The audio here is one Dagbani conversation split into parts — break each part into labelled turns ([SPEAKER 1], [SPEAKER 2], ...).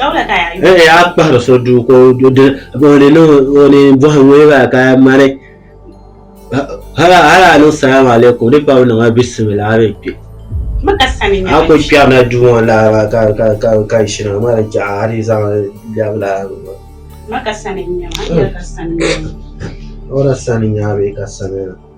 [SPEAKER 1] Hey, a kpahiri so duu ka o di o ni niŋ o ni bɔhi ŋuniba ka mani hala hala a niŋ salaam alaikum di pam niŋ a bisimila a mi kpe a ku kpɛrila duu ŋɔ laa maa ka ka ka ka shina a mali jaɣa a di zaŋ lɛbi laa maa o da sani n-nya bee ka sani n-nya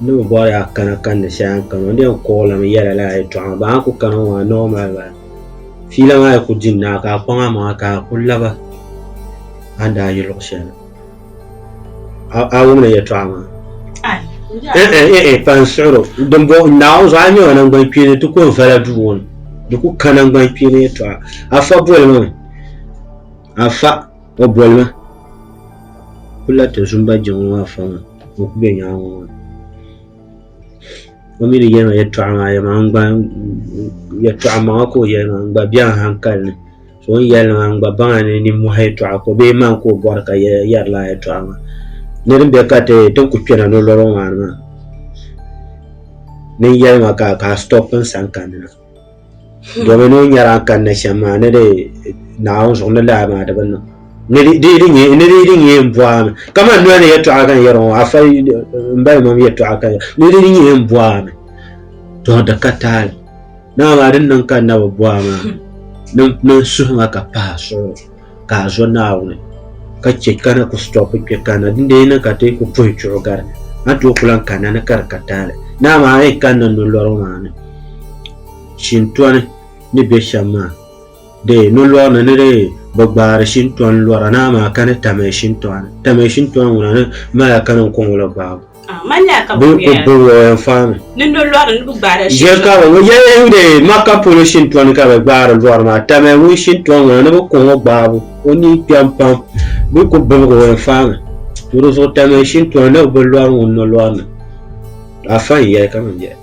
[SPEAKER 1] N ni bi bɔri a kana kanni shɛli a ni kani o ni yɛn kuɣi lami yɛla lala yɛltɔɣa maa ban a ku kani ŋɔ maa ni o mali ba fiila maa yi ku di n naai ka a kpaŋ a maŋa ka a ku laba a ni daa yi luɣ shɛli a wumdi yɛltɔɣa maa pa n siɣir o dimbɔŋ n naai o zuɣu a ni nyɛ o nangbani kpeeni ti ko n vala duu ŋɔ ni di ku ka nangbani kpeeni yɛltɔɣa afa boli mi mi afa O boli ma ku la ti zumba jiŋli maa fɔŋ ni o ku be nyaaŋa ŋɔ ni o mi ni yɛli ma yɛtɔɣa maa yɛli ma n gba yɛtɔɣa maŋa ka o yɛli ma n gba bɛ a hankali ni so o ni yɛli ma n gba baŋ a ni nimmɔhi yɛtɔɣa ka o bee maŋ ka o bɔri ka yɛri laa yɛtɔɣa maa ni din bɛ ka ti ti ni ku kpɛna ni o lɔri ŋɔ maa ni maa ni n yɛli ma ka a stɔp n sani kanni na domin o nyɛla n kanna shɛm maa ni di naawuni zuɣu ni laa maa di bi niŋ ni di di di nyɛ ni di di nyɛ n bɔhami kamani noli ni yɛltɔɣa ka n yɛri ŋɔ afa n bali mam yɛltɔɣa ka ni di di nyɛ n bɔhami to di ka taali dama maa din niŋ ka n na bi bɔha maa ni n suhu ŋa ka pahi suɣuri ka a zo Naawuni ka chɛ ka na ku stɔpi kpɛ kanna dindee ni ka ti ku puhi chuɣu gari a ni tooi ku lan kanna ni ka di ka taali ni amaa a yi kanna nolɔrigu maa ni shintɔni ni bɛ shɛm maa dee nolɔri ni ni dee bi gbaari shintɔni lɔra ni amaa ka ni tamɛ shintɔni tamɛ shintɔni ŋuna ni mala ka niŋ kɔŋɔ la gbaabu Bɛ
[SPEAKER 2] ku bɔŋɔ o yɛn
[SPEAKER 1] fahimi
[SPEAKER 2] Ʒe kari ŋɔ yɛliya n be
[SPEAKER 1] Makka polo shintɔni ka bɛ gbaari lɔri maa tamiya ŋun shintɔni ŋɔ na ni bɛ ku ŋɔ gbaabu o ni kpɛm pam bɛ ku bibigi o yɛn fahimi to di zuɣu tamiya shintɔni ni bɛ lɔri ŋuni ni lɔri ni afa n yɛli ka man yɛli.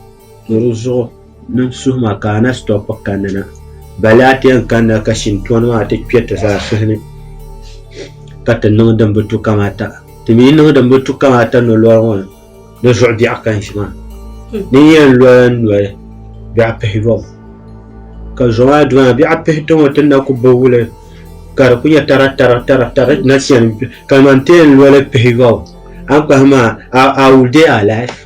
[SPEAKER 1] Ka di zuɣu niŋ suhu maa ka a na sitɔpi kanna na, bali a ti yɛn kanna ka shintɔni maa ti kpe ti zaa suhu ni ka ti niŋ din bi tu kamata. Ti mi yi niŋ din bi tu kamata nolɔri ŋɔ ni, di zuɣu biɛɣu ka n-ʒi maa. Di ni yɛn lɔya n-noli, biɛɣu pihi yom. Ka zo maa di maa, biɛɣu pihi ti ŋɔ ti ni na ku bi wuli ka di ku nyɛ taratara taratara ti na chani ka di maa n-ti yɛn loli pihi yom, a ni kpahi maa, I will dey alive.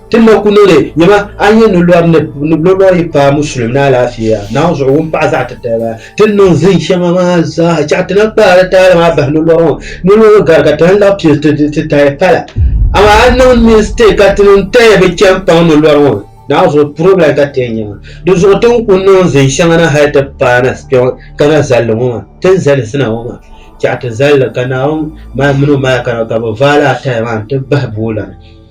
[SPEAKER 1] Ti ma ku noli nyama a yi ni lɔri ni ni lɔlɔ yi paai musulim ni alaafeeya Naawuni zuɣu wun paɣi zaɣi titaliba. Ti ni niŋ zin shɛŋa maa zaa chɛɣu ti na kpaari taali maa bahi ni lɔri ŋɔ ni lɔlɔ gari ka ti lan laɣ pili ti ti tahi pala. Amaa a niŋ mistake ka ti niŋ tahi bi chani paŋ ni lɔri ŋɔ Naawuni zuɣu problem ka ti yɛn nyɛ maa. Di zuɣu ti ni ku niŋ zin shɛŋa na hali ti paai na kpe ŋɔ ka na zalli ŋɔ maa ti ni zali zina ŋɔ maa chɛɣu ti zali li ka Naawuni mali mini o malika nima ka bi vaai lala tahi maa n ti bahi boola ni.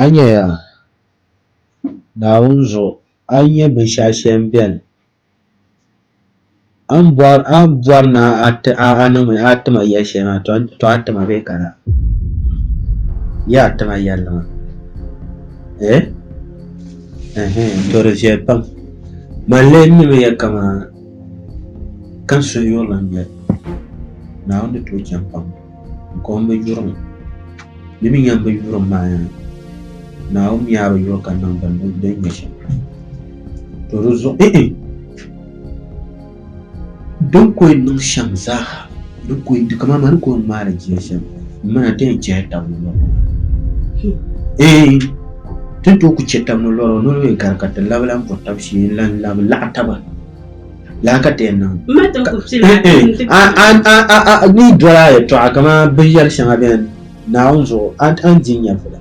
[SPEAKER 1] A yi nyɛya, Naawuni zuɣu, a yi nya binshɛɣu shɛli ni beni. A ni bɔri ni a niŋmi a tima yɛli shɛli maa tɔ a tima bee ka laa yi a tima yɛlli maa eh tɔ di viɛli pam man lee n nimi yɛ kaman ka n suhu yurili n-nyɛ Naawuni ni tooi chaŋ pam Kom bi yurim, di mi yɛn bi yurim maa yaa, Naawuni mi yaa bi yuri ka niŋ bini ni din nyɛ shɛm. To di zuɣu, eh eh, din ko yɛn niŋ shɛm zaaha, din ko yɛn di kaman ma ni ko yɛn ŋmaai li jia shɛm, m mina ti yɛn chɛhi tab ni lɔri maa. Eh, ti ni tooi ku chɛ tab ni lɔri maa, noli mi gari ka ti labi lan bo tab shee n-lan labi laɣi taba. laa ka ti yɛn
[SPEAKER 2] niŋ
[SPEAKER 1] ni dɔla yɛltɔɣa kamani binyɛri shɛŋa bɛni naawuni zuɣu a ni di n-nyɛ vula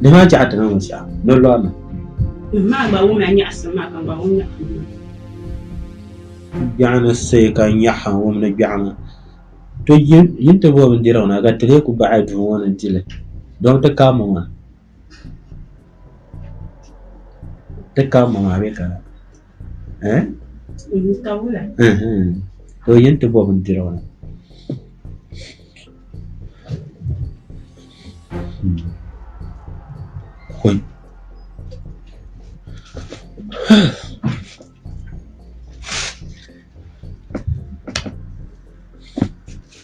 [SPEAKER 1] di maa chɛ a ti niŋ shɛm ni lɔrina biɛɣu ni say ka n nyaɣi ha n-wum ni biɛɣu ni to yi ni ti bo bindirigu na ka ti leei ku baɣi duu ŋɔ ni di li dɔbiti ka mɔŋa Ti ka ma maa bɛ ka eh?
[SPEAKER 2] Mhm. Ka
[SPEAKER 1] o yɛn ti bɔ bindirigu na. Hmm. Oi.